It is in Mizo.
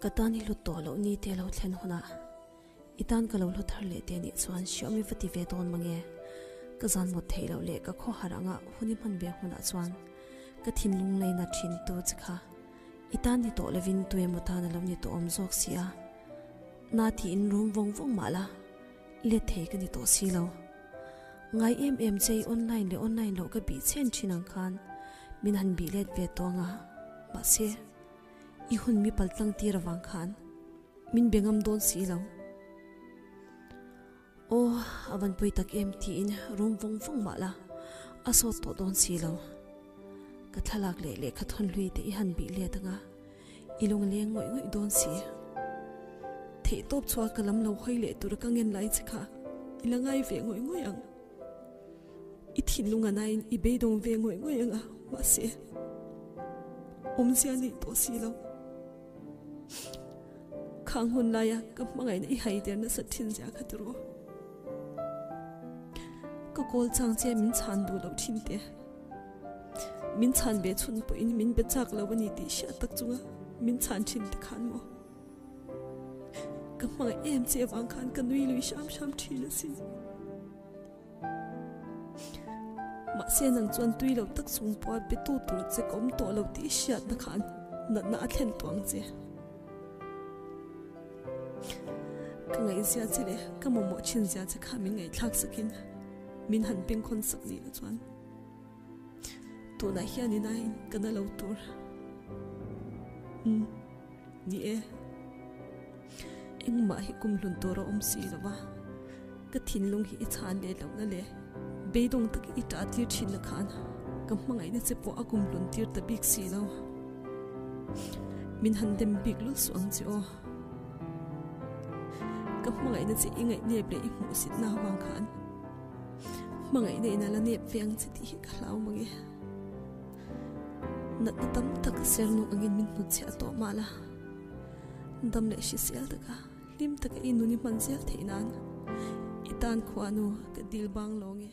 Ka tan i hlut tawh loh ni teh lo thlen hunah i tan ka lo hlu thar leh teh nih chuan hriami va ti ve dawn mange. Ka zan mawt theih loh leh ka khawhar anga hun i hman ve hunah chuan ka thinlung laina thintu chi kha i tan ni tawh lovin tuemaw tan a lo ni tawhawm zawk si a, na tiin rum vawng vawng mah la. Let thei ka ni tawh si lo. Ngai em em che i online leh online loh ka bih chen thin ang khan min han bih let ve tawh ang a, mahse, i hun mi pal tlangtir avang khan min be ngam dawn si lo. Aw, a van pawi tak em tiin rum vawng vawng mah la a sawt tawh dawn si lo. Ka thlalak leh lehkha thawnhlui te i han bih let ang a. I lungleng ngawih ngawih dawn si. Theihtawp chhuak ka lam lo hawi leh tur ka ngen lai che kha i la ngai ve ngawih ngawih ang. I thinlung a naiin i beidawng ve ngawih ngawih ang a, mahse, awmzia neih tawh si lo. Khang hun laia ka hmangaihna i haider nasa thin zia kha ti rawh. Ka kawlchang che min chhan duh loh thin te. Min chhan ve chhun pawh in min be chak lo ani tih hriat tak chunga min chhan thin te khan maw ka hmang em che vang khan ka nui lui hram hram thin asi ma se nang chuan tui lo tak sung pawh be tu tur che kom to lo tih hriat na khan na na a thlen tuang che ka ngai zia che le ka momo thin zia che kha min ngai thlak sakin min han peng khon sak ni lo chuan Tunah hian in aiin ka na lo tur. Umm, ni e. Engmah hi kum hlun tur a awm si lo va, ka thinlung hi i chhan leh loh na le, beidawng tak i ṭah tir ṭhin na khan ka hmangaih na che pawh a kum hlun tir ta bik si lo. Min han dem bik lul suh ang che aw. Ka hmangaih na che i ngaih nep leh i hmuhsit na avang khan. Hmangaih neih na la nep ve ang che tih hi ka hlau mang e. Natna tam tak sernuk angin min hnut che a tawh mah la. Dam leh hri sial taka hlim taka i nun i hman zel theih nan i tan khua nu ka dil bang lawng e.